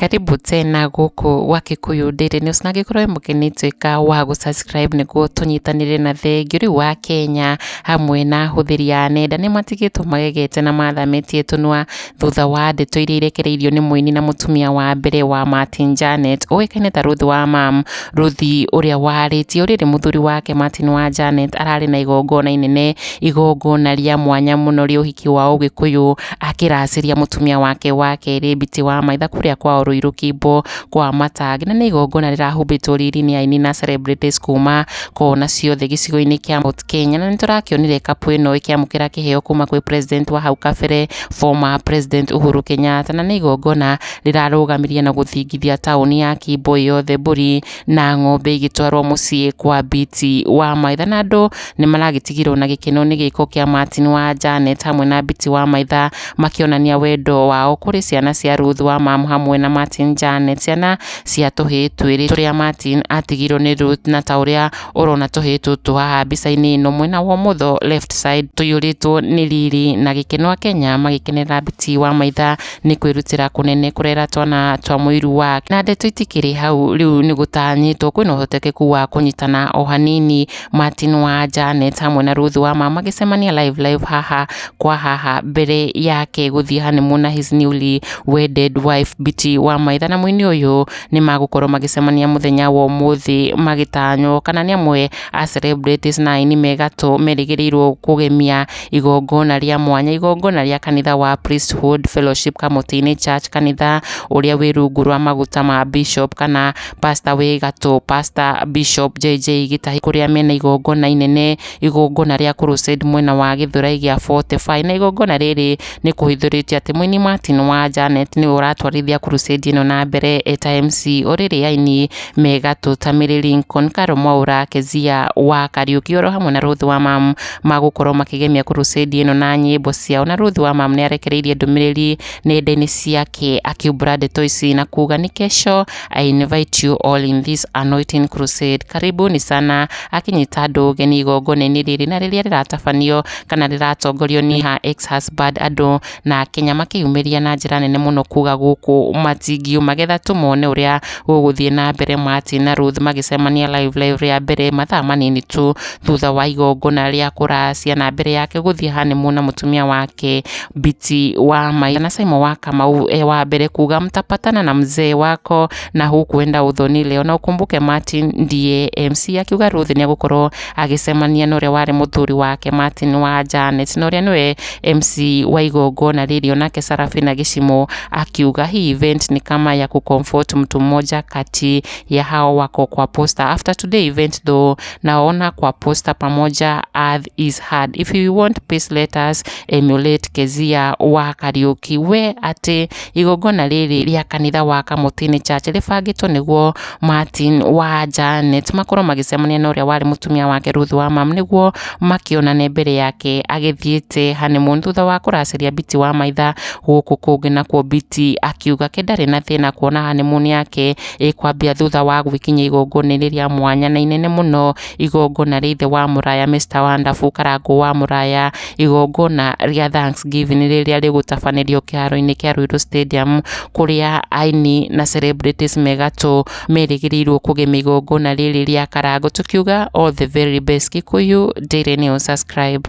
karibu tena gũkũ gwa Kikuyu Daily News na angĩkorwo mũkĩnĩtuĩka wa gũ subscribe nĩguo tũnyitanĩre na thengiũ rĩu wa Kenya hamwe na hũthĩri ya nenda nĩ matigĩtwo magegete na mathamĩtie tũnua thutha wa ndeto iria irekereirio nĩ mũini na mũtumia wa mbere wa Martin Janet ũĩkaine ta Ruth wa Mam. Ruth ũrĩa warĩtie ũrĩrĩ mũthuri wake Martin wa Janet ararĩ na igongona inene, igongona rĩa mwanya mũno rĩa ũhiki wa Ũgĩkũyũ akĩracĩria mũtumia wake wa kerĩ Biti wa Maitha kũrĩa kwao Rũirũ Kimbo kwa Matangi na nĩ igongona rĩrahumbĩtwo riri-inĩ aini na celebrities kuma kona ciothe gĩcigo-inĩ kĩa Mt Kenya na nĩ tũrakĩonire couple ĩno ĩkĩamũkĩra kĩheo kuma gwĩ president wa hau kabere. former President Uhuru Kenyatta, na nĩ igongona rĩrarũgamirie na gũthingithia taũni ya Kimbo yothe mbũri na ng'ombe igĩtwarwo mũciĩ kwa Biti wa Maitha, na andũ nĩ maragĩtigĩrwo na gĩkeno nĩ gĩko kĩa Martin wa Janet hamwe na Biti wa Maitha makĩonania wendo wao kũrĩ ciana cia Ruth wa Mamu hamwe na Martin Janet, ciana cia tũhĩĩ twĩrĩ tũrĩa Martin atigirwo nĩ Ruth na ta ũrĩa ũrona tũhĩĩ tũtũ haha mbica-inĩ ĩno mwena wa ũmotho left side tũiyũrĩtwo nĩ riri na gĩkeno Akenya magĩkenerera Biti wa maitha nĩ kwĩrutĩra kũnene kũrera twana twa mũiru wa na ndeto itikĩrĩ hau rĩu nĩ gũtanyĩtwo kwĩna ũhotekeku wa kũnyitana o hanini Martin wa Janet hamwe na Ruth wa ma magĩcemania live live haha kwa haha mbere yake gũthiĩ honeymoon na his newly wedded wife Biti wa maitha na mũini ũyũ nĩ magũkorwo magĩcemania mũthenya wa ũmũthĩ magĩtanywo kana nĩ amwe a celebrities na aini me gatũ merĩgĩrĩirwo kũgemia igongona rĩa mwanya igongona rĩa kanitha wa Priesthood Fellowship Kamũtĩ-inĩ Church kanitha ũrĩa wĩ rungu rwa maguta ma Bishop kana pastor wĩ gatũ pastor Bishop JJ Gĩtahi kũrĩa mena igongona inene igongona rĩa crusade mwena wa Gĩthũrai gĩa 45 na igongona rĩrĩ nĩ kũhithũrĩtie atĩ mũini Martin wa Janet nĩwe ũratwarithia Crusade ĩno na mbere eta MC ũrĩrĩ aini me gatũ ta Mary Lincoln, Carol Mwaura, Kezia wa Kariuki oro hamwe na Ruth wa Mam magũkorwo makĩgemia Crusade ĩno na nyĩmbo ciao na Ruth wa Mam nĩ arekereirie ndũmĩrĩri nenda-inĩ ciake akiumbũra ndeto ici na kuga nĩ kesho I invite you all in this anointing crusade karibuni sana akinyita andũ ũgeni igongona-inĩ rĩrĩ na rĩrĩa rĩratabanio kana rĩratongorio nĩ her ex husband andũ na Kenya makĩyumĩria na njĩra nene mũno kuga gũkũ matingiũ magetha tũmone ũrĩa gũgũthiĩ na mbere Martin na Ruth magĩcemania live live rĩa mbere mathaa manini tu thutha wa igongona rĩa kũracia na mbere yake gũthiĩ hanĩmu na mũtumia wake Biti wa Mai na Simon wa Kamau e wa mbere kuga mtapatana na mzee wako na hukuenda udhoni leo na ukumbuke Martin ndiye MC akiuga Ruth nĩ agũkorwo agĩcemania na ũrĩa warĩ mũthuri wake Martin wa Janet na ũrĩa nĩwe MC wa igongona rĩrĩ onake Sarafina Gĩcimũ akiuga hii event ni kama ya kucomfort mtu mmoja kati ya hao wako kwa poster after today event though naona kwa poster pamoja earth is hard if you want peace let us emulate Kezia wa Kariuki we ati Igongona rĩrĩ rĩa kanitha wa Kamũtĩ-inĩ Church rĩbangĩtwo nĩguo Martin wa Janet makorwo magĩcemania na ũrĩa warĩ mũtumia wake Ruth wa Mam nĩguo makĩonane mbere yake agĩthiĩte honeymoon thutha wa kũracĩria Biti wa maitha gũkũ kũngĩ nakuo Biti akiuga ke ndarĩ na thĩna kuona honeymoon yake ĩkwambia thutha wa gwĩkinyia igongona-inĩ rĩa mwanya na inene mũno igongona rĩa ithe wa mũraya Mr Wonderful Karangũ wa mũraya, igongona rĩa Thanks Giving rĩrĩa rĩgũtabanĩrio kĩharo-inĩ kĩa Ruiru Stadium, kũrĩa aini na celebrities me gatũ merĩgĩrĩirwo kũgemia igongona rĩrĩ rĩa Karangũ, tũkiuga all the very best Kikuyu Daily News, subscribe.